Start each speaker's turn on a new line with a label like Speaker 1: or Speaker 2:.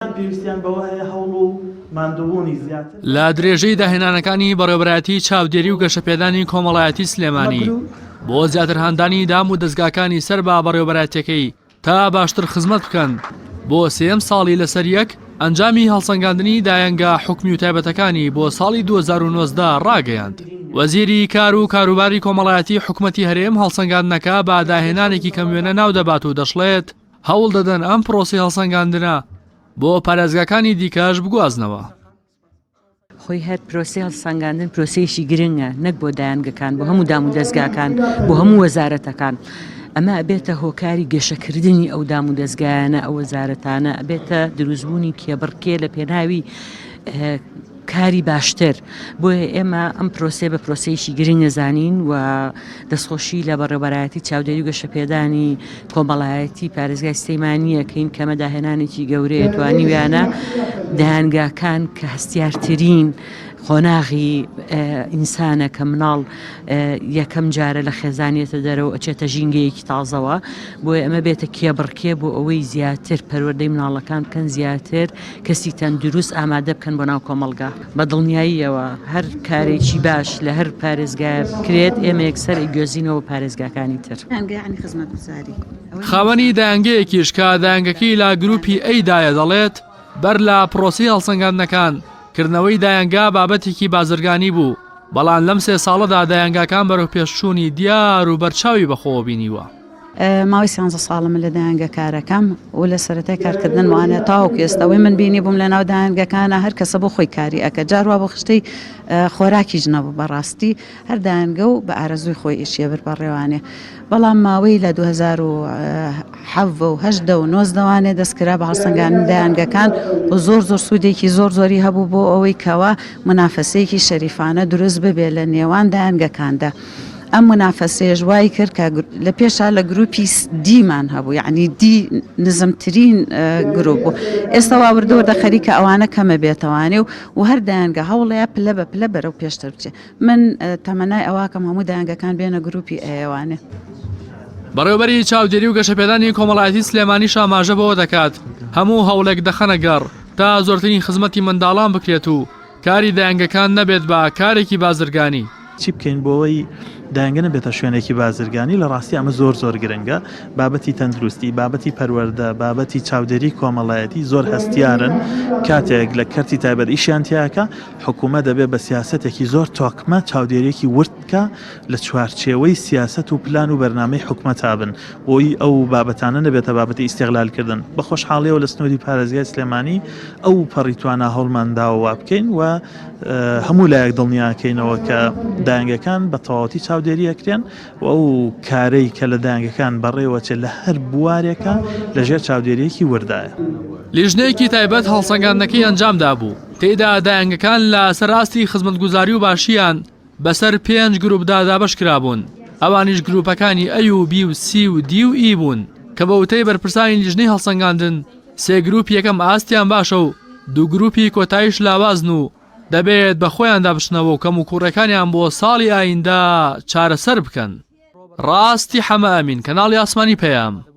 Speaker 1: پێویستیان بەوە هەیە هەوڵ و ماندووبوونی زیاتر. لە درێژەی داهێنانەکانی بەڕێوەبەرایەتی چاودێری و گەشەپێدانی کۆمەڵایەتی سلێمانی بۆ زیاتر هاندانی دام و دەزگاکانی سەر بە بەڕێوەبەرایەتەکەی تا باشتر خزمەت بکەن بۆ سێم ساڵی لەسەر یەک ئەنجامی هەڵسەنگاندنی دایەنگە حکومی و تایبەتەکانی بۆ ساڵی 2009دا ڕاگەیاند وەزیری کار و کاروباری کۆمەڵایەتی حکوومەتتی هەرێم هەڵسەنگاندنەکە بە داهێنانێکی کەم وێنە ناو دەبات و دەشڵێت هەوڵ دەدەن ئەم پرۆسی هەڵسەنگاندنە بۆ پارێزگاکانی دیکەش بگوازنەوە.
Speaker 2: خۆی هەر پرۆسی هەڵسەنگاندن پرۆسیشی گرنگە نەک بۆ دایانگەکان بۆ هەموو دام و دەستگاکان بۆ هەموو وەزارەتەکان. ئەمە ئەبێتە هۆکاری گەشەکردنی ئەو دام و دەستگایانە ئەو وەزارەتانە ئەبێتە دروستبوونی کێبڕکێ لە پێناوی کاری باشتر، بۆیە ئێمە ئەم پرۆسەیە بە پرۆسەیەکی گرنگ دەزانین و دەستخۆشی لە بەڕێوەبەرایەتی چاودێری و گەشەپێدانی کۆمەڵایەتی پارێزگای سلێمانی یەکەین کە ئەمە داهێنانێکی گەورەیە توانیویانە دەیانگاکان کە هەستیارترین قۆناغی ئینسانە کە مناڵ یەکەم جارە لە خێزانێتە دەرەوە ئەچێتە ژینگەیەکی تازەوە بۆیە ئەمە بێتە کێبڕکێ بۆ ئەوەی زیاتر پەروەردەی مناڵەکان بکەن زیاتر کەسی تەندروست ئامادە بکەن بۆ ناو کۆمەڵگا. بە دڵنیاییەوە هەر کارێکی باش لە هەر پارێزگایە بکرێت، ئێمە یەکسەر ئەیگوێزینەوە بۆ پارێزگاکانی تر.
Speaker 1: خاوەنی دایەنگەیەکیش کە دایەنگەکەی لا گرووپی ئەی دایە دەڵێت، بەر لە پرۆسەی هەڵسەنگاندنەکان، کردنەوەی دایەنگا بابەتێکی بازرگانی بوو، بەڵام لەم سێ ساڵەدا دایەنگاکان بەرەوپێشچوونی دیار و بەرچاوی بەخۆوە بینیوە. ماوەی سیانزە
Speaker 3: ساڵە من لە دایەنگە کارەکەم و لە سەرەتای کارکردن وانە تاوەکو ئێستاەوەی من بینی بووم لە ناو دایەنگەکانە هەر کەسە بۆ خۆی کاری ئەکە جاروا بۆ خشتەی خۆراکی ژنەبوو بەڕاستی هەر دایەنگە و بە ئارەزووی خۆی ئیشیە بەر بەڕێوانێ بەڵام ماوەی لە 2010 دەستکرا بە هەڵسەنگان دایانگەکان و زۆر زۆر سوودێکی زۆر زۆری هەبوو بۆ ئەوەی کەەوە منافەسەیەکی شەریفانە دروست ببێت لە نێوان دایانگەکاندا. ئەم منافەسەیەش وای کرد کە لە پێشا لە گروپی دیمان هەبوو یعنی دی نزمترین گروپ بوو ئێستا واوردەوە دە خەریکە ئەوانە کەمە بێتەوانێ و و هەر دایانگە هەوڵەیە پلە بە پلە بەرەو پێشتر بچێ من تەمەنای ئەواکەم هەموو دایانگەکان بێنە گروپی ئەیوانێ.
Speaker 1: بەڕێوبەری چاودێری و گەشەپێدانی کۆمەڵایەتی سلێمانی شاماژە بەوە دەکات هەموو هەوڵێک دەخەنە گەڕ تا زۆرترین خزمەتی منداڵان بکرێت و کاری دایەنگەکان نەبێت بە کارێکی بازرگانی. چی بکەین بۆوەی
Speaker 4: دایەنگە نەبێتە شوێنێکی بازرگانی، لە ڕاستی ئەمە زۆر زۆر گرنگە، بابەتی تەندروستی، بابەتی پەروەردە، بابەتی چاودێری کۆمەڵایەتی زۆر هەستیارن، کاتێک لە کەرتی تایبەت ئیشیان تیاکا، حکوومەت دەبێ بە سیاسەتێکی زۆر تۆکمە چاودێریەکی ورد بکا لە چوارچێوەی سیاسەت و پلان و بەرنامەی حکومەتا بن، بۆی ئەو بابەتانە نەبێتە بابەتی ئیستیغلال کردن. بە خۆشحاڵیەوە لە سنوری پارێزگای سلێمانی ئەو پەڕی توانا هەوڵمان داوە وابکەین و هەموو لایەک دڵنیا کەینەوە کە دایەنگەکان بە تەواوەتی چاودێری ئەکرێن و ئەو کارەی کە لە دایەنگەکان بەڕێوەچێت لە هەر بوارێکا لە ژێر چاودێریەکی وردایە. لیژنەیەکی
Speaker 1: تایبەت هەڵسەنگاندنەکەی ئەنجام دابوو، تێیدا دایەنگەکان لە سەر ئاستی خزمەتگوزاری و باشیان بەسەر پێنج گروپدا دابەش کرابوون، ئەوانیش گروپەکانی ئەی و بی و سی و دی و ئی بوون، کە بە وتەی بەرپرسانی لیژنەی هەڵسەنگاندن سێ گروپی یەکەم ئاستیان باشە و دوو گروپی کۆتاییش لاوازن و دەبێت بە خۆیاندا بچنەوە و کەموکوڕیەکانیان بۆ ساڵی ئایندە چارەسەر بکەن. ڕاستی حەمە ئەمین، کەناڵی ئاسمانی پەیام.